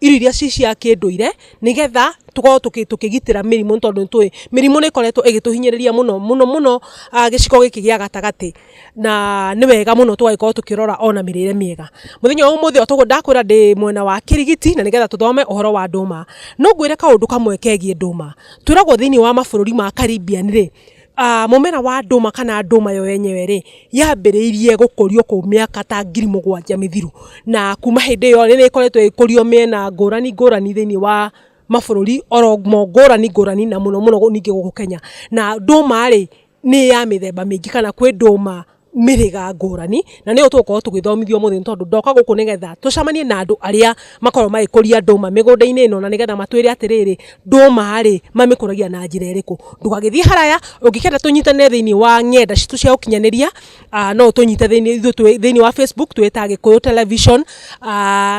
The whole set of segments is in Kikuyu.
irio iria ci cia kĩndũire nĩgetha tũkorwo tũkĩgitĩra mĩrimũ tondũ nĩ tũĩ mĩrimũ nĩ ĩkoretwo ĩgĩtũhinyĩrĩria mũno mũno mũno gĩcigo gĩkĩ gĩa gatagatĩ na nĩ wega mũno tũgagĩkorwo tũkĩrora ona mĩrĩre mĩega. Mũthenya wa ũmũthĩ o ta ũguo ndakwĩra ndĩ mwena wa Kĩrigiti na nĩgetha tũthome ũhoro wa ndũma, no ngwĩre kaũndũ kamwe kegiĩ ndũma. Twĩragwo thĩinĩ wa mabũrũri ma Caribbean rĩ, Mũmera wa ndũma kana ndũma yo yenyewe rĩ, yambĩrĩirie gũkũrio kũu mĩaka ta ngiri mũgwanja mĩthiru. Na kuuma hĩndĩ ĩyo nĩ ĩkoretwo ĩgĩkũrio mĩena ngũrani ngũrani thĩinĩ wa mabũrũri oro mo ngũrani ngũrani na mũno mũno ningĩ gũkũ Kenya. Na ndũma rĩ, nĩ ya mĩthemba mĩingĩ kana kwĩ ndũma... mĩhĩga ngũrani na nĩyo tũgũkorwo tũgĩthomithio mũthĩ nĩ tondũ ndoka gũkũ nĩgetha tũcemanie na andũ arĩa makorwo magĩkũria ndũma mĩgũnda-inĩ ĩno na nĩgetha matwĩre atĩrĩrĩ ndũma rĩ mamĩkũragia na njĩra ĩrĩkũ. Ndũgagĩthiĩ haraya ũngĩkenda tũnyitanĩre thĩinĩ wa ng'enda citũ cia ũkinyanĩria no ũtũnyite thĩinĩ wa Facebook twĩ ta Gĩkũyũ Television.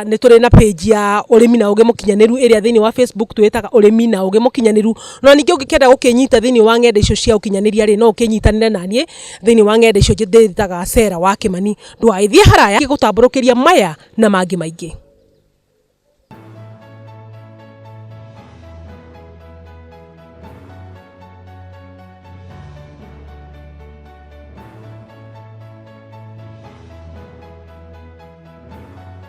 Nĩ tũrĩ na page ya ũrĩmi na ũgĩ mũkinyanĩru ĩrĩa thĩinĩ wa Facebook twĩtaga ũrĩmi na ũgĩ mũkinyanĩru. Na ningĩ ũngĩkenda gũkĩnyita thĩinĩ wa ng'enda icio cia ũkinyanĩria rĩ no ũkĩnyitanĩre naniĩ. Thĩinĩ wa ng'enda icio njĩtaga Sarah wa Kĩmani ndũgagĩthiĩ haraya gũtambũrũkĩria maya na mangĩ maingĩ.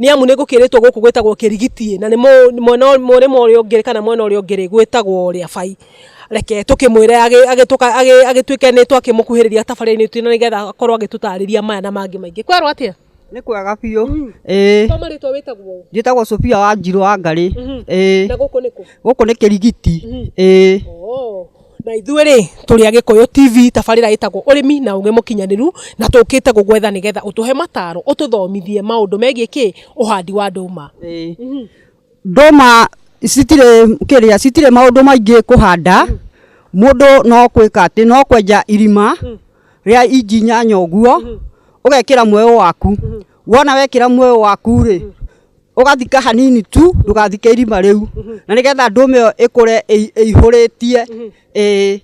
nĩ amu nĩ ngũkĩrĩtwo gũkũ gwĩtagwo kĩrigitiĩ na nĩ mwena ũrĩa ũngĩ kana mwena ũrĩa ũngĩ gwĩtagwo ũrĩa bai reke tũkĩmwĩre agĩtuĩke nĩ twakĩmũkuhĩrĩria tabarĩra-inĩ itũ nĩ getha akorwo agĩtũtarĩria maya na mangĩ maingĩ kwerwo atĩa? Nĩ kwega biũ. Mm. Ĩĩ. Toma rĩtwa wĩtagwo? Njĩtagwo Sofia wa Njirũ wa Ngarĩ. Mm-hmm. Ĩĩ. Na gũkũ nĩ kũ? Gũkũ nĩ Kĩrigiti. Mm-hmm. Ĩĩ. Oh. Na ithuĩ rĩ, tũrĩ a Gĩkũyũ TV, tabarĩra ĩtagwo Ũrĩmi na Ũgĩ Mũkinyanĩru, na tũkĩte gũgwetha nĩgetha ũtũhe mataro, ũtũthomithie maũndũ megiĩ kĩ, ũhandi wa ndũma. Ndũma citirĩ kĩrĩa, citirĩ maũndũ maingĩ kũhanda, mũndũ no gwĩka atĩ, no kwenja irima rĩa inji inyanya ũguo, ũgekĩra mweũ waku, wona wekĩra muoyo waku rĩ ũgathika hanini tu ndũgathike irima rĩu na nĩgetha ndũme ĩyo ĩkũre ĩi- ĩihũrĩtie ĩĩ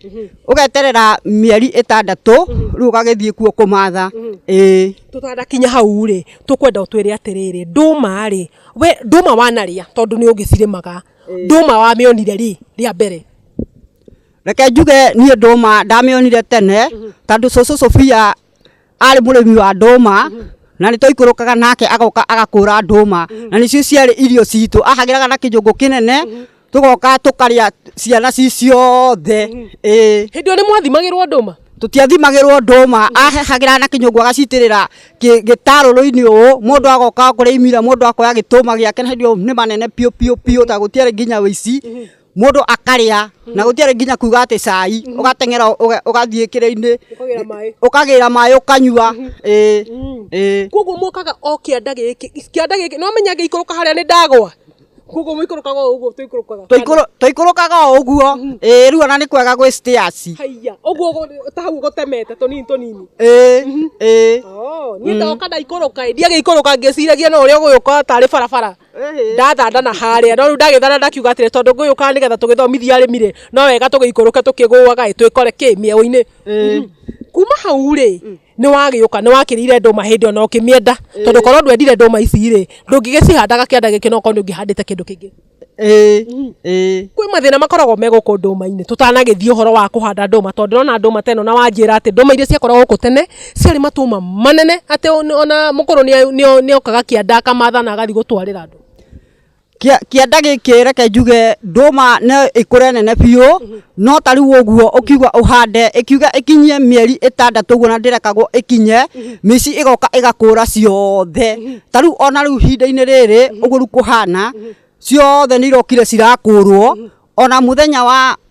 ũgeterera mĩeri ĩtandatũ rĩu ũgagĩthiĩ kuo kũmatha ĩĩ tũtanakinya hau rĩ tũkwenda ũtwĩre atĩrĩrĩ ndũma rĩ we ndũma wanarĩa tondũ nĩ ũgĩcirĩmaga ndũma wamĩonire rĩ rĩa mbere reke njuge niĩ ndũma ndamĩonire tene tondũ cũcũ Sofia arĩ mũrĩmi wa ndũma na nĩ twaikũrũkaga nake agoka agakũra ndũma na nĩcio ciarĩ irio citũ ahagĩraga na kĩnjũngũ kĩnene tũgoka tũkarĩa ciana ci ciothe ĩĩ hĩndĩ ĩyo nĩ mwathimagĩrwo ndũma tũtiathimagĩrwo ndũma ahagĩraga na kĩnyũngũ agacitĩrĩra kĩ- gĩtarũrũ-inĩ ũũ mũndũ agoka kũrĩa imira mũndũ akoya gĩtũma gĩake na hĩndĩ ĩyo nĩ manene biũ biũ biũ ta gũtiarĩ nginya ũici mũndũ akarĩa na gũtiarĩ nginya kuga atĩ cai ũgateng'era ũga- ũgathiĩ kĩrĩa-inĩ Ũkagĩra maĩ. ũkagĩra maĩ ũkanyua ĩĩ ĩĩ koguo mokaga o kĩanda gĩkĩ kĩanda gĩkĩ no menya ngĩikũrũka harĩa nĩ ndagwa koguo mũikũrũkaga o ũguo tũikũrũkaga Tũikũrũ- tũikũrũkaga o ũguo ĩĩ rĩu ona nĩ kwega gwĩ stairs haiya ũguo gũ- ta hau gũtemete tũnini tũnini ĩĩ ĩĩ Oh, niĩ ndoka ndaikũrũka ĩ, ndiagĩikũrũka ngĩciragia no ũrĩa ũgũgĩũka tarĩ barabara ndathandana harĩa no rĩu ndagĩthana ndakiuga atĩrĩ tondũ ngũyũkaga nĩgetha tũgĩthomithie arĩmi rĩ no wega tũgĩikũrũke tũkĩgũaga ĩ twĩkore kĩ mĩeũ-inĩ Mhm. kuma hau rĩ nĩ wagĩũka nĩ wakĩrĩire ndũma hĩndĩ ona ũkĩmĩenda tondũ korwo ndwendire ndũma ici rĩ ndũngĩgĩcihandaga kĩanda gĩkĩ no korwo nĩ ũngĩhandĩte kĩndũ kĩngĩ kwĩ mathĩna makoragwo me gũkũ ndũma-inĩ tũtanagĩthiĩ ũhoro wa kũhanda ndũma tondũ ndĩrona ndũma teno na wanjĩra atĩ ndũma iria ciakoragwo gũkũ tene Ciarĩ matũma manene atĩ ona mũkũrũ nĩokaga kĩanda akamatha na agathiĩ gũtwarĩra andũ. Kĩanda gĩkĩ reke njuge ndũma no ĩkũre nene biũ, no ta rĩu ũguo ũkiuga ũhande, ĩkiuga ĩkinyie mĩeri ĩtandatũ ũguo na ndĩrekagwo ĩkinye, mĩici ĩgoka ĩgakũra ciothe. Ta rĩu ona rĩu ihinda-inĩ rĩrĩ ũguo rĩu kũhana, ciothe nĩirokire cirakũrwo, ona mũthenya wa...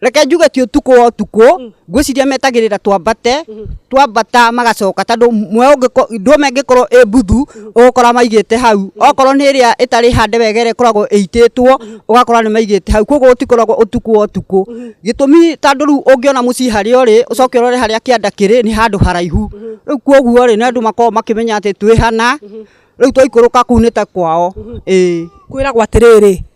reke njuge ti utuku wa utuku mm. ngwiciria metagirira twambate mm-hmm. twambata magacoka tondu mwe ndwome ngikorwo i mbuthu mm-hmm. ugukora maigite hau mm-hmm. okorwo ni iria itari hande wega iria ikoragwo iititwo ugakora ni maigite hau koguo gutikoragwo utuku wa utuku gitumi tondu riu ungiona mucii haria uri ucoke urore haria kianda kiri ni handu haraihu riu koguo ri ni andu makorwo makimenya ati twihana riu twaikuruka kuu ni ta kwao ii kwiragwo atiriri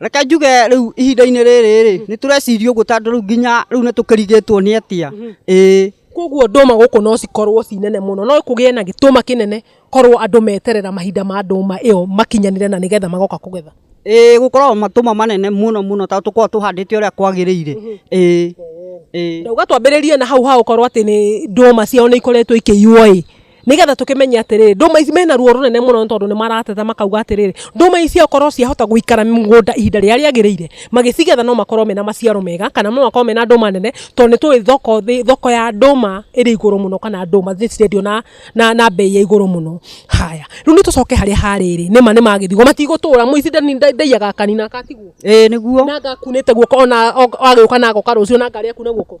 reke njuge rĩu ihinda-inĩ rĩrĩ rĩ nĩ tũreciria ũguo tondũ rĩu nginya rĩu nĩ tũkĩrigĩtwo nĩ atia mhm. ĩĩ koguo ndũma gũkũ no cikorwo ci nene mũno no kũgĩe na gĩtũma kĩnene korwo andũ meterera mahinda ma ndũma ĩyo makinyanire na nĩgetha magoka kũgetha ĩĩ gũkoragwo matũma manene mũno mũno tondũ tũkoragwo tũhandĩte ũrĩa kwagĩrĩire mhm. ĩĩ ĩĩ uga twambĩrĩrie na hau ha gũkorwo atĩ nĩ ndũma ciao nĩ ikoretwo ikĩiywo ĩĩ nigetha tukimenye atiriri nduma ici mena ruo runene muno ni tondu ni marateta makauga atiriri nduma ici okorwo ciahota guikara mugunda ihinda riria riagirire magicigetha no makorwo mena maciaro mega kana no makorwo mena nduma nene tondu ni tui thoko thi thoko ya nduma iri iguru muno kana nduma ni cirendio na na na mbei ya iguru muno haya riu ni tucoke haria hariri nima ni magithigwo matigutura muici ndani- nda- ndaiyaga kanina akatigwo ĩĩ nĩguo na ngakunite guoko ona agiuka na agoka rucio na ngari akune guoko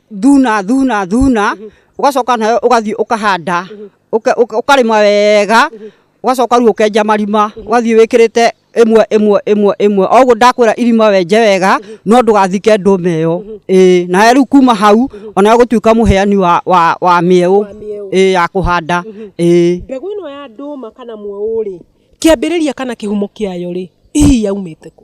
thuna thuna thuna ugacoka nayo ugathii ukahanda ukarima wega ugacoka riu ukenja marima ugathii wikirite imwe imwe imwe imwe oguo ndakwira irima wenje wega no ndugathike ndume iyo ii na riu kuma hau onayo gutuika muheani wa wa wa mieu ii ya kuhanda ii mbegu ino ya nduma kana mweũ rĩ kĩambĩrĩria kana kĩhumo kĩayo rĩ hihi yaumĩte kũ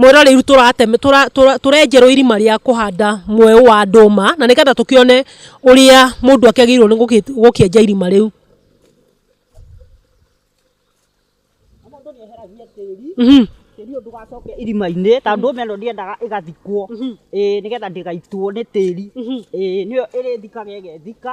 Mwera rĩu tũratema tũrenjerwo irima rĩa kũhanda mweũ wa ndũma na nĩgetha tũkĩone ũrĩa mũndũ agĩrĩirwo nĩ gũkĩenja irima rĩu. Tĩri ũyũ ndũgacoke irima-inĩ tondũ ndũma ĩno ndĩendaga ĩgathikwo nĩgetha ndĩgaitwo nĩ tĩri, nĩyo ĩrĩthikaga ĩgethika.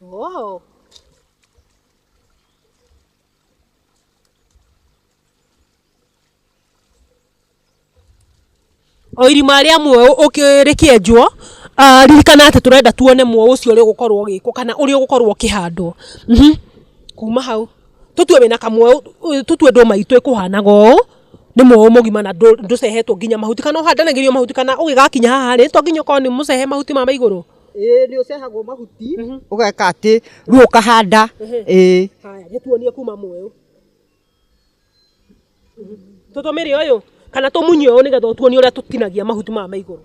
Whoa. o irima rĩa mweũ ũkĩ- rĩkĩenjwo ah, ririkana atĩ tũrenda tuone mweũ ũcio ũrĩa ũgũkorwo ũgĩkwo kana ũrĩa ũgũkorwo ũkĩhandwo Mhm. kuma hau tũtue wĩna kamweũ ũ- tũtue ndũma itũ ĩkũhanaga ũũ nĩ mweũ mũgima na ndũ- ndũcehetwo nginya mahuti kana ũhandanagĩrio mahuti kana ũgĩgakinya haha rĩ to nginya ũkorwo nĩ mũcehe mahuti ma maigũrũ ĩĩ nĩ ũcehagwo mahuti ũgeka atĩ rĩu ũkahanda ĩĩ haya gĩtuonie kuma mweũ tũtũmĩre ũyũ kana tũmunye ũyũ nĩgetha ũtuonie ũrĩa tũtinagia mahuti maya ma igũrũ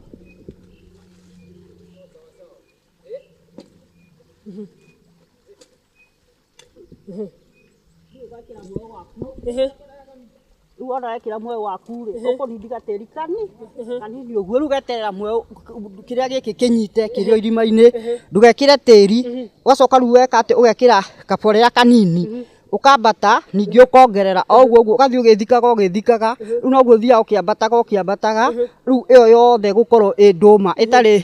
rĩu ona wekĩra mweũ waku rĩ ũkũrindiga tĩri kanini kanini ũguo rĩu geterera mweũ kĩrĩa gĩkĩ kĩnyite kĩrĩ o irima-inĩ ndũgekĩre tĩri ũgacoka rĩu weka atĩ ũgekĩra kaborea kanini ũkambata ningĩ ũkongerera o ũguo ũguo ũgathiĩ ũgĩthikaga ũgĩthikaga rĩu noguo ũthiaga ũkĩambataga ũkĩambataga rĩu ĩyo yothe ĩgũkorwo ĩ ndũma ĩtarĩ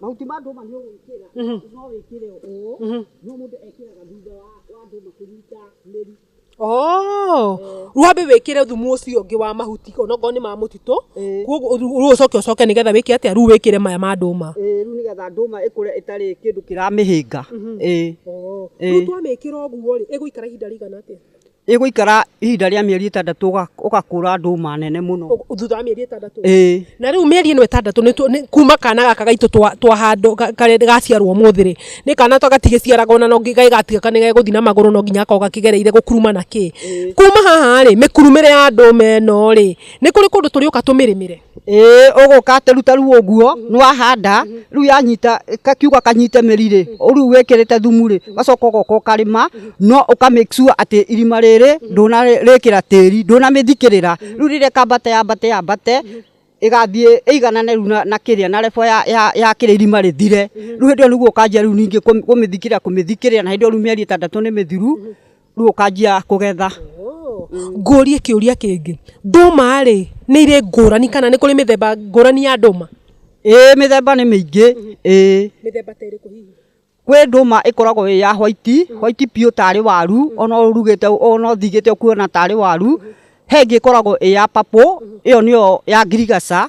mahuti ma ndũma nĩ ũgwĩkĩra Mhm. no wĩkĩre ũũ Mhm. no mũndũ ekĩraga thutha wa wa ndũma kũnyita mĩri Oh, wambe wĩkĩre thumu ũcio ũngĩ wa mahuti onokorwo nĩ ma mũtitũ Ĩĩ. koguo rĩu rĩu ũcoke ũcoke nĩgetha wĩke atĩa rĩu wĩkĩre maya ma ndũma Ĩĩ, rĩu nĩgetha ndũma ĩkũre ĩtarĩ kĩndũ kĩramĩhĩnga Ĩĩ. rĩu Ĩĩ. twamĩkĩra ũguo rĩ ĩgũikara ihinda rĩigana atĩa ĩgũikara ihinda rĩa mĩeri ĩtandatũ ũgakũra ndũma nene mũno. Thutha wa mĩeri ĩtandatũ? Ĩĩ. Na rĩu mĩeri ĩno ĩtandatũ nĩ kuma kana gaka gaitũ twahandwo karĩa gaciarwo ũmũthĩ rĩ, nĩ kana to gatigĩciaraga ona no gegatiga kana nĩ gegũthi na magũrũ no nginya gakorwo gakĩgereire gũkuruma na kĩ. Kuma haha rĩ, mĩkurumĩre ya ndũma ĩno rĩ, nĩ kũrĩ kũndũ tũrĩũka tũmĩrĩmĩre? Ĩĩ ũgũka atĩ ruta rĩu ũguo nĩ wahanda rĩu yanyita kiuga kanyite mĩri rĩ rĩu wĩkĩrĩte thumu rĩ ũgacoka ũgoka ũkarĩma no ũka make sure atĩ irima rĩrĩ ndũnarĩkĩra tĩri ndũnamĩthikĩrĩra rĩu rĩrĩa ĩkambate yambate yambate ĩgathiĩ ĩiganane rĩu na kĩrĩa na level ya kĩrĩa irima rĩthire rĩu hĩndĩ ĩyo nĩguo ũkanjia rĩu ningĩ kũmĩthikĩrĩra kũmĩthikĩrĩra na hĩndĩ ĩyo rĩu mĩeri ĩtandatũ nĩ mĩthiru. rĩu ũkanjia kũgetha ngũrie kĩũria kĩngĩ ndũma rĩ nĩ irĩ ngũrani kana nĩ kũrĩ mĩthemba ngũrani ya ndũma ĩĩ mĩthemba nĩ mĩingĩ ĩĩ mĩthemba ta ĩrĩkũ hihi kwĩ ndũma ĩkoragwo ĩ ya white white biũ tarĩ waru ona ũrugĩte ona ũthigĩte ũkuona tarĩ waru he ĩngĩ ĩkoragwo ĩ ya purple ĩyo nĩyo ya ngirigaca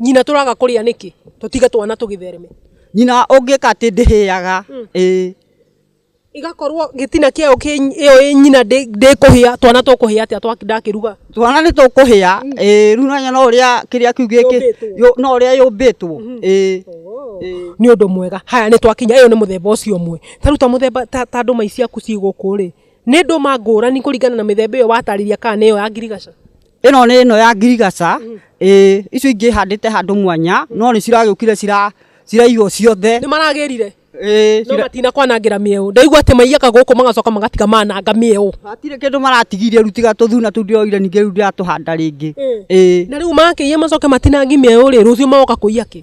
Nyina tũraga kũrĩa nĩkĩ? Tũtige twana tũgĩthereme. Nyina ũngĩka atĩ ndĩhĩaga. Mm. Ĩĩ. Igakorwo gĩtina kĩayo ĩyo ĩ nyina ndĩkũhĩa twana tũkũhĩa atĩa ndakĩruga? Twana nĩ tũkũhĩa. Mm. Ĩĩ rĩu nanya no ũrĩa kĩrĩa kĩu gĩkĩ no ũrĩa yũmbĩtwo. Mm-hmm. Ĩĩ. Oh. Nĩ ũndũ mwega. Haya nĩ twakinya ĩyo nĩ mũthemba ũcio ũmwe. Ta rĩu ta mũthemba ta ta ndũma ici ciaku ciĩ gũkũ rĩ, nĩ ndũma ngũrani kũringana na mĩthemba ĩyo watarĩria kana nĩ ĩyo ya ngirigaca? ĩno nĩ ĩno ya ngirigaca ĩĩ icio ingĩ handĩte handũ mwanya no nĩ ciragĩũkire cira ciraigwo ciothe nĩ maragĩrire ĩĩ no cira- matina kwanangĩra mĩeũ ndaigua atĩ maiyaga gũkũ magacoka magatiga mananga mĩeũ hatirĩ kĩndũ maratigirie rĩu tiga tũthuna tũu ndĩroire ningĩ rĩu ndĩratũhanda rĩngĩ ĩĩ na rĩu makĩiya macoke matinangi mĩeũ rĩ rũciũ magoka kũiya kĩ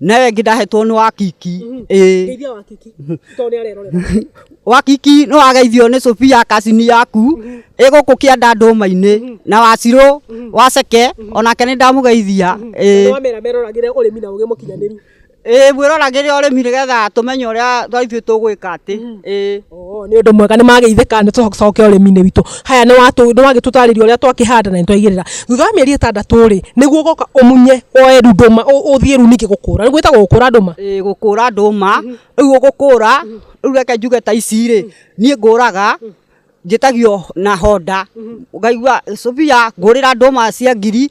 na ĩyo ĩngĩ ndahetwo nĩ wa kiki mhm. ĩĩ ngeithia wa kiki mhm. to nĩ arerorera wa kiki no ageithio nĩ Sofia kasini yaku mhm. ĩgũkũ kĩanda ndũma-inĩ na wacirũ waceke onake nĩ ndamũgeithia ĩĩ wamera meroragĩre ũrĩmi na ũgĩ mũkinyanĩru ĩĩ mwĩroragĩre ũrĩmi nĩgetha tũmenye ũrĩa ithuĩ tũgwĩka atĩ ĩĩ Oo nĩ ũndũ mwega nĩ mageithĩka nĩ tũcoke ũrĩmi-inĩ witũ. Haya nĩ wagĩtũtarĩria ũrĩa twakĩhanda na nĩ twaigĩrĩra. Thutha wa mĩeri ĩtandatũ rĩ, nĩguo ũgoka ũmunye woe rĩu ndũma ũthiĩ rĩu ningĩ gũkũra. Nĩguo ĩtagwo gũkũra ndũma? Ĩĩ gũkũra ndũma. Rĩu ũgũkũra, rĩu reke njuge ta ici rĩ, niĩ ngũraga njĩtagio na honda. Ngaigua, Sofia ngũrĩra ndũma cia ngiri.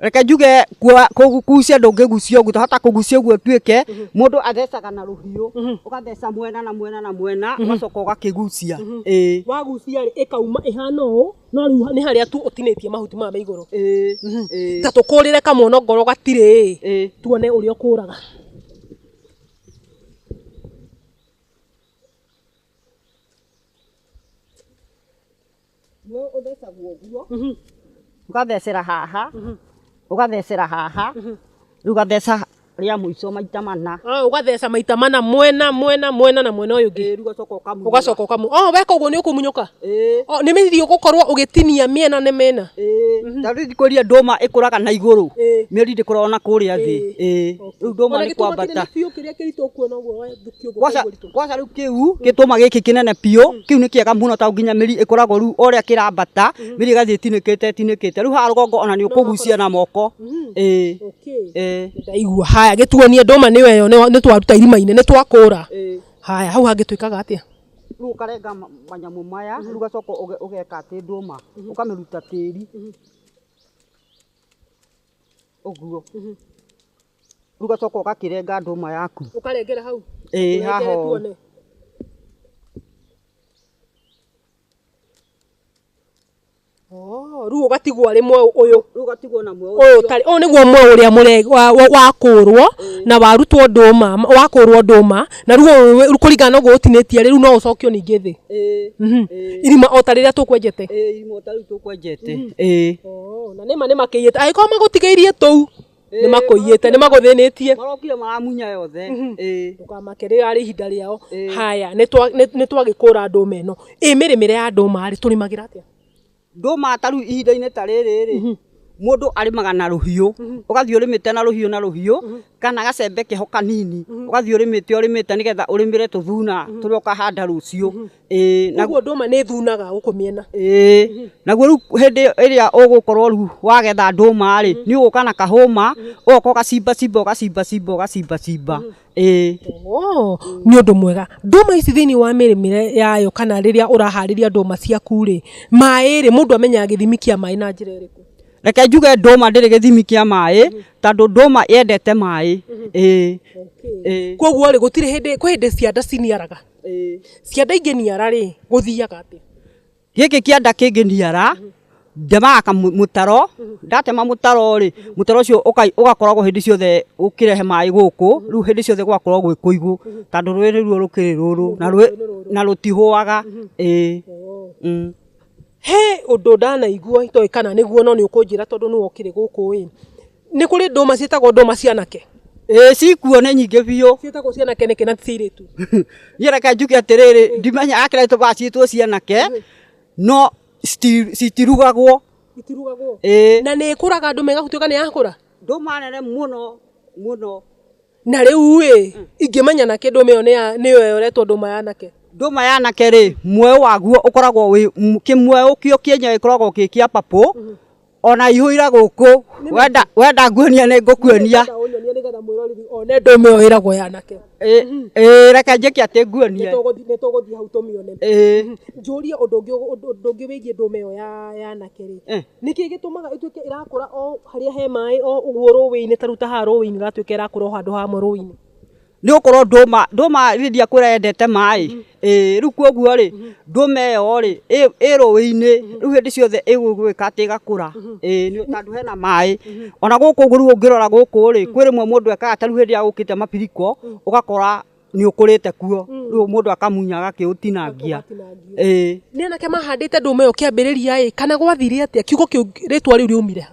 reke njuge kuo- kũgucia ndũngĩgucia ũguo hata kũgucia ũguo tuĩke mũndũ athecaga na rũhiũ ũgatheca mwena na mwena na mwena ũgacoka ũgakĩgucia ĩĩ wagucia rĩ ĩkauma ĩhana ũũ no rĩu nĩ harĩa tu ũtinĩtie mahuti maya ma igũrũ ĩĩ ĩĩ ta tũkũrĩre kamwono ngoro gatirĩ ĩ ĩĩ tuone ũrĩa ũkũraga Nĩ ũthecagwo ũguo. Mhm. Ũgathecera haha, Mhm. ũgathecera haha, Mhm. rĩu ũgatheca rĩa mũico maita mana. Ah, ũgatheca maita mana mwena mwena mwena na mwena ũyũ ũngĩ Ĩĩ, rĩu ũgacoka ũkamunya. ũgacoka ũkamu oh, weka ũguo nĩ ũkumunyũka Ĩĩ, oh, nĩ mĩthithi ũgũkorwo ũgĩtinia mĩena nĩ mĩena ĩĩ. Ta rĩu thikũ iria ndũma ĩkũraga na igũrũ, Ĩĩ. mĩri ndĩkũraga na kũrĩa thĩ. Ĩĩ. Rĩu ndũma nĩ kwambata. biũ kĩrĩa kĩritũ ũkuona ũguo thukio Waca- Kwaca rĩu kĩu gĩtũma gĩkĩ kĩnene biũ kĩu nĩ kĩega mũno tondũ nginya mĩri ĩkoragwo rĩu o ũrĩa kĩrambata mĩri ĩgathiĩ ĩtinĩkĩte ĩtinĩkĩte rĩu haha rũgongo ona nĩ ũkũgucia na moko ĩĩ ĩĩ ndaigua haya gĩtuonie ndũma nĩyo ĩyo nĩwa- nĩ twaruta irima-inĩ nĩ twakũra ĩĩ haya hau hangĩ twĩkaga atĩa rĩu ũkarenga ma- manyamũ maya rĩu ũgacoka ũge- ũgeka atĩ ndũma ũkamĩruta tĩri ũguo rĩu ũgacoka ũgakĩrenga ndũma yaku Ũkarengera hau. ĩĩ Ũrengere haha ũũ. tuone. Oh, rĩu ũgatigwo arĩ mwau ũyũ. rĩu ũgatigwo na muoyo Ũyũ ũtarĩ- ũyũ nĩguo mwau ũrĩa mũre- wa- wa- wakũrwo na warutwo ndũma wakũrwo ndũma na rĩu ũyũ wĩ- kũringana na ũguo ũtinĩtie rĩu no ũcokio ningĩ thĩ ĩĩ Mhm. irima o ta rĩrĩa tũkwenjete ĩĩ imota rĩu tũkwenjete ĩĩ na nĩma nĩmakĩiyĩte agĩkorwo magũtigĩirie tũu nĩ makũiyĩte nĩ magũthĩnĩtie marokire maramunya yothe ĩĩ ndũkamake rĩo arĩ ihinda rĩao Ĩĩ. haya nĩ twa- nĩ- nĩ twagĩkũra ndũma ĩno ĩ mĩrĩmĩre ya ndũma rĩ tũrĩmagĩra atĩa ndũma ta rĩu ihinda-inĩ ta rĩrĩ rĩ mũndũ arĩmaga na rũhiũ ũgathiĩ ũrĩmĩte na rũhiũ na rũhiũ kana gacembe keho kanini ũgathiĩ ũrĩmĩte ũrĩmĩte nĩgetha ũrĩmĩre tũthuna tũrĩa ũkahanda rũciũ Ĩĩ, naguo ũguo ndũma nĩ thunaga gũkũ mĩena ĩĩ naguo rĩu hĩndĩ ĩrĩa ũgũkorwo rĩu wagetha ndũma rĩ nĩ ũgũka na kahũma ũgoka ũgacimbacimba ũgacimbacimba ũgacimbacimba ĩĩ Oo, nĩ ũndũ mwega ndũma ici thĩinĩ wa mĩrĩmĩre yayo kana rĩrĩa ũraharĩria ndũma ciaku rĩ maĩ rĩ mũndũ amenyaga gĩthimi kĩa maĩ na njĩra ĩrĩkũ reke njuge ndũma ndĩrĩ gĩthimi kĩa maĩ tondũ ndũma yendete maĩ ĩĩ ĩĩ kwoguo rĩ gũtirĩ hĩndĩ kwĩ hĩndĩ cianda ciniaraga Kĩanda ingĩniara-rĩ, gũthiaga atĩa? Gĩkĩ kĩanda kĩngĩniara, ndemaga kamũtaro, ndatema mũtaro-rĩ, mũtaro ũcio ũgakoragwo hĩndĩ ciothe ũkĩrehe maĩ gũkũ, rĩu hĩndĩ ciothe gũgakorwo gwĩ kũigũ, tondũ rũĩ nĩruo rũkĩrĩ rũrũ, na rũtihũaga. He ũndũ ndanaigua itoĩ kana nĩguo no nĩũkũnjĩra tondũ nĩwe ũkĩrĩ gũkũ-ĩ. Nĩ kũrĩ ndũma ciĩtagwo ndũma cianake. Ĩĩ cikuo nĩ nyingĩ biũ. Ciĩtagwo cianake nĩkĩ na ti cia airĩtu? Niĩ reke njuge atĩrĩrĩ ndimenya akĩrĩa tũbaga ciĩtwo cianake no citi- citirugagwo. Itirugagwo? Ĩĩ. Na nĩ ĩkũraga ndũma ĩgatuĩka nĩ yakũra? Ndũma nene mũno mũno. Na rĩu ĩ, ingĩmenya nakĩ ndũma ĩyo nĩ ya nĩ ĩyo yoretwo ndũma ya anake? Ndũma ya anake rĩ, muoyo waguo ũkoragwo wĩ kĩmuoyo kĩo kĩenyewe gĩkoragwo gĩ kĩa purple, ona ihũira gũkũ wenda wenda nguonia nĩ ngũkuonia Nĩgetha ũnyonie nĩgetha mwĩroreri one ndũme ĩyo ĩragwo yanake Ĩ- ĩ, reke njĩke atĩ nguonie Nĩtũgũthi- nĩtũgũthiĩ hau tũmĩone Ĩ, njũrie ũndũ ũngĩ ũndũ ũndũ ũngĩ wĩgiĩ ndũme ĩyo ya yanake rĩ Eh. nĩkĩ gĩtũmaga ĩtuĩke ĩrakũra o harĩa he maĩ o ũguo rũĩ-inĩ ta rĩu ta haha rũĩ-inĩ ĩgatuĩka ĩrakũra o handũ hamwe rũĩ-inĩ nĩ gũkorwo ndũma ndũma rĩrĩa ndiakwĩra yendete maĩ ĩĩ rĩu kwoguo rĩ ndũma ĩyo rĩ ĩ- ĩ rũĩ-inĩ rĩu hĩndĩ ciothe ĩgũgĩka atĩ ĩgakũra ĩĩ nĩ- tondũ hena maĩ ona gũkũ ũguo rĩu ũngĩrora gũkũ rĩ kwĩ rĩmwe mũndũ ekaga ta rĩu hĩndĩ ĩrĩa gũkĩte mabiriko ũgakora nĩ ũkũrĩte kuo rĩu mũndũ akamunya agakĩũtinangia ĩĩ nĩ anake mahandĩte ndũma ĩyo kĩambĩrĩria ĩ kana gwathire atĩa kiugo kĩu rĩtwa rĩu rĩaumire ha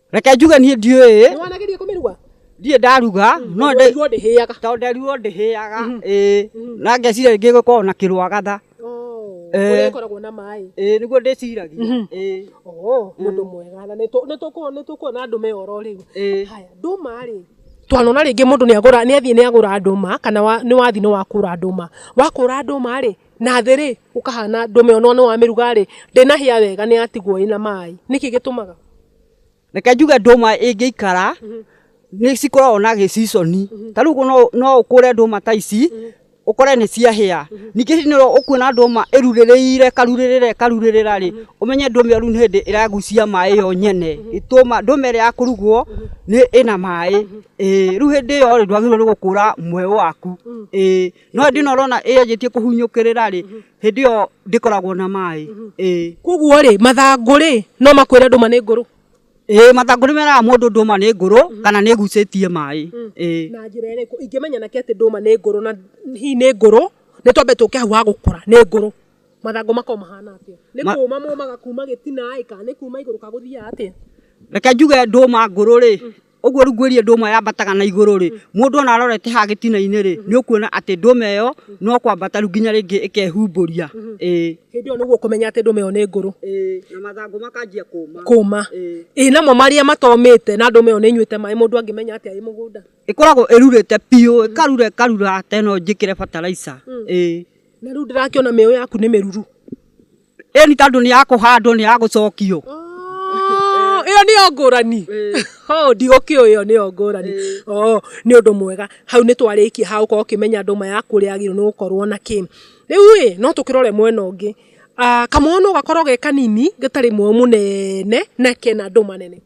reke njuge niĩ ndiũĩ Nĩ wanageria kũmĩruga? ndiĩ ndaruga no Tondũ waigua ndĩhĩaga. tondũ nderirwo ndĩhĩaga ĩĩ na ngeciria rĩngĩ gũkoragwo na kĩrwagatha Oh, Eh. kũrĩa ĩkoragwo na maĩ. ĩĩ nĩguo ndĩciragia ĩĩ Oh, mũndũ mwega. Na nĩtũ- nĩtũkuo- nĩtũkuona ndũme oro rĩu. ĩĩ Haya, ndũma rĩ twanona rĩngĩ mũndũ nĩagũra nĩathiĩ nĩagũra ndũma kana wa, nĩ wathiĩ nĩ wakũra ndũma wakũra ndũma rĩ Na thĩ rĩ, gũkahana ndũme onwo nĩ wa mĩruga rĩ, ndĩnahĩa wega nĩ yatigwo ĩna maĩ. Nĩkĩ gĩtũmaga? Reke njuge ndũma ĩngĩikara, nĩ cikoragwo na gĩ season. Ta rĩu ũguo no ũkũre ndũma ta ici, ũkore nĩ ciahĩa. Ningĩ hĩndĩ ĩno ũkuona ndũma ĩrurĩrĩire ĩkarurĩrĩra ĩkarurĩrĩra rĩ, ũmenye ndũma ĩyo rĩu nĩ hĩndĩ ĩragucia maĩ yo nyene. Ndũma ĩrĩa ya kũrugwo ĩna maĩ. Ĩĩ. Rĩu hĩndĩ ĩyo rĩ, ndwagĩrĩirwo nĩ gũkũra mweũ waku. Ĩĩ. no hĩndĩ ĩno ũrona ĩyanjĩtie kũhunyũkĩrĩra rĩ hĩndĩ ĩyo ndĩkoragwo na maĩ ĩĩ koguo rĩ mathangũ rĩ no makwĩre ndũma nĩ ngũrũ ĩĩ mathangũ nĩ meraga mũndũ ndũma nĩ ngũrũ kana nĩ ĩgucĩtie maĩ ĩĩ na njĩra ĩrĩkũ ingĩmenya nake atĩ ndũma nĩ ngũrũ na hihi nĩ ngũrũ nĩ twambe tũke hau ha gũkũra nĩ ngũrũ mathangũ makoo mahana atĩa nĩ Ma- kũũma mũũmaga kuma gĩtina ĩ kana nĩ kuma igũrũ ka gũthiaga atĩa reke njuge ndũma ngũrũ rĩ Ũguo rungu ĩrĩa ndũma yambataga na igũrũ-rĩ, mũndũ ona arorete haha gĩtina-inĩ-rĩ, nĩũkuona atĩ ndũma ĩyo no kwambata rĩu nginya rĩngĩ ĩkehumbũria. Ĩĩ. Hĩndĩ ĩyo nĩguo ũkũmenya atĩ ndũma ĩyo nĩ ngũrũ. Ĩĩ, na mathangũ makanjia kũũma. Kũũma. Ĩĩ. Ĩĩ namo marĩa matomĩte na ndũma ĩyo nĩĩnyuĩte maĩ mũndũ angĩmenya atĩa ĩ mũgũnda? Ĩkoragwo ĩrurĩte biũ, ĩkarura ĩkarura ta ĩno njĩkĩre bataraica. Ĩĩ. Na rĩu ndĩrakĩona mĩeũ yaku nĩ mĩruru. ĩyo nĩ tondũ nĩ ya kũhandwo nĩ ya gũcokio Oh, ĩyo nĩyo ngũrani Oh, ndigũkĩũĩ ĩyo nĩyo ngũrani Oh, nĩ ũndũ mwega hau nĩ twarĩkia ha gũkorwo ũkĩmenya ndũma yaku ũrĩa yagĩrĩirwo nĩ gũkorwo na kĩ rĩu ĩ no tũkĩrore mwena ũngĩ Ah, kamũhũnũ gakorwo ge kanini gatarĩ mũo mũnene na kena ndũma nene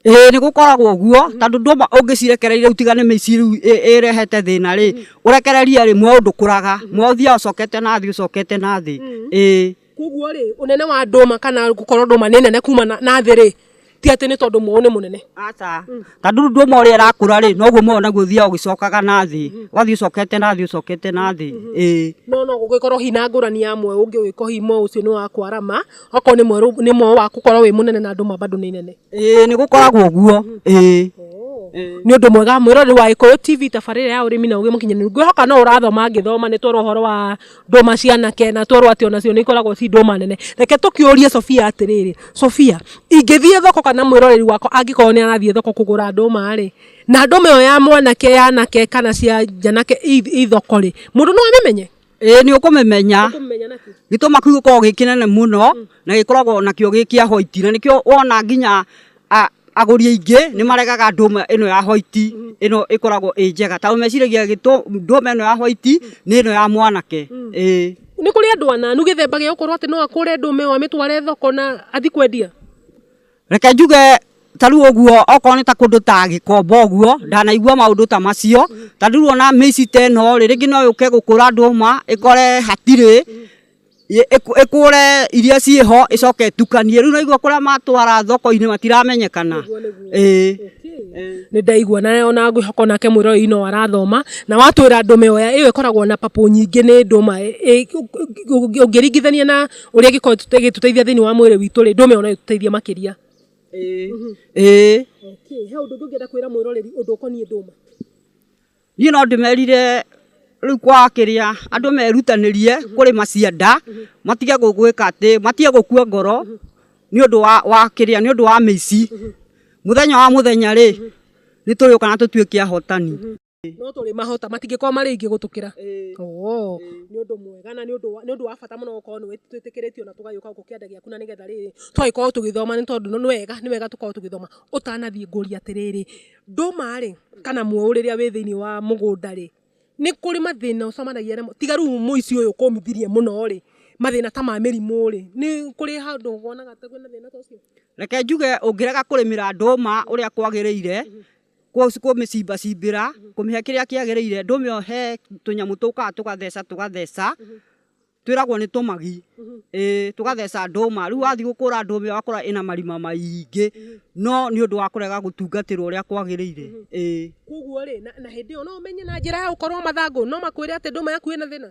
Ĩĩ nĩ gũkoragwo ũguo tondũ ndũma ũngĩcirekereria ũtigane mĩciĩ rĩu ĩrehete thĩna rĩ, ũrekererie rĩ mweũ ndũkũraga, mweũ ũthiaga ũcokete na thĩ ũcokete na thĩ. Ĩĩ. Kũguo rĩ, ũnene wa ndũma kana gũkorwo ndũma nĩ nene kuma na thĩ rĩ, ti atĩ nĩ tondũ mweũ nĩ mũnene. Aca. Tondũ rĩu ndũma ũrĩa ĩrakũra rĩ, noguo mweũ naguo ũthiaga ũgĩcokaga na thĩ. Ũgathiĩ ũcokete na thĩ ũcokete na thĩ. Ĩĩ. No no gũgĩkorwo hihi na ngũrani ya mweũ ũngĩ ũngĩkorwo hihi mweũ ũcio nĩ wa kwarama. Okorwo nĩ mwerũ nĩ mweũ waku korwo wĩ mũnene na ndũma bado nĩ nene. Ĩĩ nĩ gũkoragwo ũguo. Ĩĩ. Nĩ ũndũ mwega mwĩroreri wa Gĩkũyũ TV tabarĩra ya ũrĩmi na ũgĩ mũkinyanĩru. Ngwĩhoka no ũrathoma ngĩthoma nĩ twerwo ũhoro wa ndũma cia anake na twerwo atĩ onacio nĩ ikoragwo ci ndũma nene. Reke tũkĩũrie Sofia atĩrĩrĩ, Sofia, ingĩthiĩ thoko kana mwĩroreri wakwa angĩkorwo nĩ arathiĩ thoko kũgũra ndũma rĩ, na ndũma ĩyo ya mwanake, ya anake kana cia njanake ii thoko rĩ, mũndũ no amĩmenye? ĩĩ nĩ ũkũmĩmenya Ũkũmenya na kĩ? gĩtũma kĩu gĩkoragwo gĩ kĩnene mũno na gĩkoragwo nakĩo gĩ kĩa white na nĩkĩo wona nginya a- agũri aingĩ nĩ maregaga ndũma ĩno ya white ĩno ĩkoragwo ĩ njega tondũ meciragia gĩtũ- ndũma ĩno ya white nĩ ĩno ya mwanake ĩĩ Nĩ kũrĩ andũ ananu gĩthemba gĩa gũkorwo atĩ no akũre ndũma ĩyo amĩtware thoko na athi kwendia? Reke njuge ta rĩu ũguo okorwo nĩ ta kũndũ ta gĩkomba ũguo ndanaigua maũndũ ta macio ta rĩu ona mĩici ta ĩno rĩ rĩngĩ no yũke gũkũra ndũma ĩkore hatirĩ ĩkũre iria ciĩho ĩcoke ĩtukanie rĩu ũraigua kũrĩa matwara thoko-inĩ matiramenyekana ĩĩ. Nĩ ndaigua na ona ngwĩhoka onake mwĩroreri no arathoma na watwĩra ndũma ĩyo ĩkoragwo na papũ nyingĩ nĩ ndũma ũngĩringithania na ũrĩa ĩgĩkorwo ĩtũte- ĩgĩtũteithia thĩinĩ wa mwĩrĩ witũ rĩ ndũme ona ĩtũteithia makĩria Ĩĩ. Ĩĩ. okay. he ũndũ ũngĩ ũngĩenda kwĩra mwĩroreri ũndũ ũkoniĩ ndũma niĩ no ndĩmerire rĩu kwa kĩrĩa andũ merutanĩrie kũrĩma cianda matige gũ- gwĩka atĩ matige gũkua ngoro nĩ ũndũ wa, wa kĩrĩa nĩ ũndũ wa mĩici mũthenya wa mũthenya rĩ nĩ tũrĩũka na tũtuĩke ahotani Ĩĩ. no tũrĩ mahota matingĩkorwo marĩ aingĩ gũtũkĩra Ĩĩ. Oo, Ĩĩ. nĩ ũndũ mwega na nĩ ũndũ wa- nĩ ũndũ wa bata mũno gũkorwo nĩ wĩt- twĩtĩkĩrĩtio na tũgagĩũka gũkũ kĩanda gĩaku na nĩgetha rĩrĩ tũgagĩkorwo tũgĩthoma nĩ tondũ nĩ wega nĩ wega tũkorwo tũgĩthoma ũtanathiĩ ngũria atĩrĩrĩ ndũma rĩ kana mũũ rĩrĩa wĩ thĩinĩ wa mũgũnda rĩ nĩ kũrĩ mathĩna ũcemanagia namo tiga rĩu mũici ũyũ kũmithirie mũno rĩ mathĩna ta ma mĩrimũ rĩ nĩ kũrĩ handũ wonaga ta kwĩna thĩna ta ũcio reke njuge ũngĩrega kũrĩmĩra ndũma ũrĩa kwagĩrĩire kũmĩcimbacimbĩra kũmĩhe kĩrĩa kĩagĩrĩire ndũmĩohe tũnyamũ tũkaga tũgatheca tũgatheca twĩragwo nĩ tũmagi ĩĩ tũgatheca ndũma rĩu wathiĩ gũkũra ndũma ĩyo wakora ĩna marima maingĩ no nĩ ũndũ wa kũrega gũtungatĩrwo ũrĩa kwagĩrĩire ĩĩ. Koguo rĩ na hĩndĩ ĩyo no ũmenye na njĩra ya gũkorwo mathangũ no makwĩre atĩ ndũma yaku ĩna thĩna?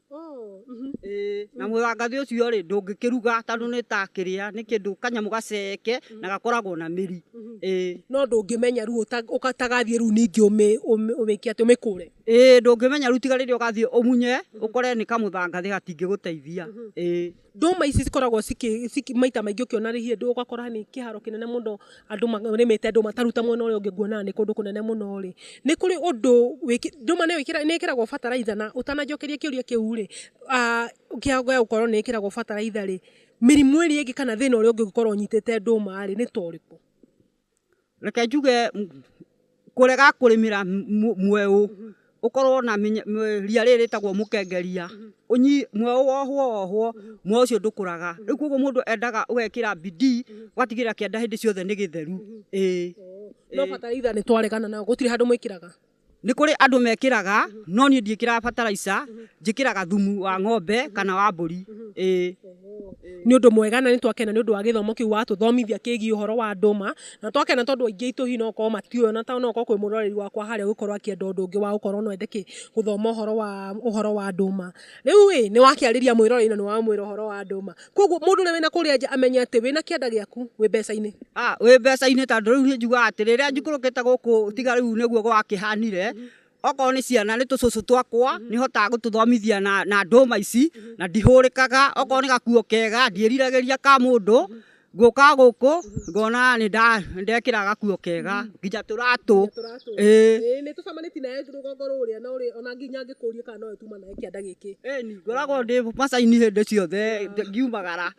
na mũthangathi ũcio rĩ ndũngĩkĩruga tondũ nĩ ta kĩrĩa nĩ kĩndũ kanyamũ gaceke na gakoragwo na mĩri. No ndũngĩmenya rĩu ũtagathiĩ rĩu ningĩ ũmĩke atĩa ũmĩkũre? Ĩĩ ndũngĩmenya rĩu tiga rĩrĩa ũgathiĩ ũmunye ũkore nĩ kamũthangathĩ gatingĩgũteithia. Ndũma ici cikoragwo maita maingĩ ũkĩona handũ ũgakora nĩ kĩharo kĩnene mũno andũ marĩmĩte ndũma, ta rĩu ta mwena ũrĩa ũngĩ nguona nĩ kũndũ kũnene mũno rĩ, nĩ kũrĩ ũndũ, ndũma nĩ ĩkĩragwo bataraitha na ũtananjokeria kĩũria kĩu rĩ, gĩa gũkorwo nĩ ĩkĩragwo bataraitha rĩ, mĩrimũ ĩrĩa ĩngĩ kana thĩna ũrĩa ũngĩkorwo ũnyitĩte ndũma rĩ, nĩ ta ũrĩkũ? Reke njuge kũrega kũrĩmĩra mweũ ũkorwo na ria rĩrĩ rĩtagwo mũkengeria, mweũ wohwo wohwo mweũ ũcio ndũkũraga. Rĩu koguo mũndũ endaga ũgekĩra bidii ũgatigĩrĩra kĩanda hĩndĩ ciothe nĩ gĩtheru. Ĩĩ. No bataraitha nĩ twaregana nayo gũtirĩ handũ mwĩkĩraga? Nĩ kũrĩ andũ mekĩraga no niĩ ndiĩkĩraga bataraica, njĩkĩraga thumu wa ng'ombe kana wa mbũri. Ĩĩ. Nĩ ũndũ mwega na nĩ twakena nĩ ũndũ wa gĩthomo kĩu watũthomithia kĩgiĩ ũhoro wa ndũma, na twakena tondũ aingĩ aitũ hihi no gũkorwo matiũĩ ona to no gũkorwo kwĩ mũroreri wakwa harĩa ũgũkorwo akĩenda ũndũ ũngĩ wa gũkorwo no ende kĩ, gũthoma ũhoro wa ũhoro wa ndũma. Rĩu ĩĩ, nĩ wakĩarĩria mwĩroreri na nĩ wamwĩra ũhoro wa ndũma. Koguo mundu uria wina kuria nja amenye ati wina kianda giaku wi mbeca-ini. Ah, wi mbeca-ini tondu riu njuga ati riria njikurukite guku tiga riu niguo gwakihanire okorwo ni ciana ni tucucu twakwa ni hotaga gututhomithia na na nduma ici na ndihurikaga okorwo ni gakuo kega ndiriragiriria ka mundu nguka guku ngona ni ndekira gakuo kega nginya turatu. Ii. Ii nitucemanitie nayo rugongo ruria ona nginya ngikurie kana no yo tumanaga. Gĩthomo kĩanda gĩkĩ. Ĩni, ngoragwo ndĩ macaini hĩndĩ ciothe ngiumagara.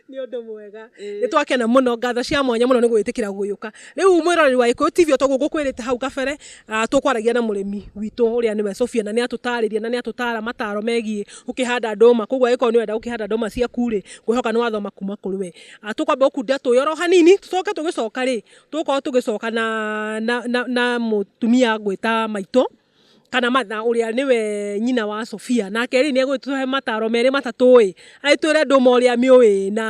Nĩ ũndũ mwega. Nĩ twakena mũno. Ngatho cia mwanya mũno nĩ gwĩtĩkĩra gũgĩũka. Rĩu mwĩroreri wa Gĩkũyũ TV o toguo ngũkwĩrĩte hau kabere, tũkwaragia na mũrĩmi witũ ũrĩa nĩwe Sophia na nĩ atũtarĩria na nĩ atũtara mataro megiĩ gũkĩhanda ndũma. Kũguo angĩkorwo nĩ ũrenda gũkĩhanda ndũma ciaku rĩ, ngwĩhoka nĩ wathoma kuma kũrĩ we. Tũkwamba gũkundĩra tũĩ oro hanini, tũcoke tũgĩcoka rĩ, tũgũkorwo tũgĩcoka na mũtumia ngwĩta maitũ. kana Martha ũrĩa nĩwe nyina wa Sofia, nake rĩ nĩegũtũhe mataro merĩ matatũ ĩ, agĩtwĩre ndũma ũrĩa mĩũĩ ĩ na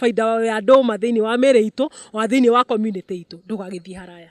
baida ya ndũma thĩinĩ wa mĩrĩ itũ, ona thĩinĩ wa community itũ. Ndũgagĩthiĩ haraya.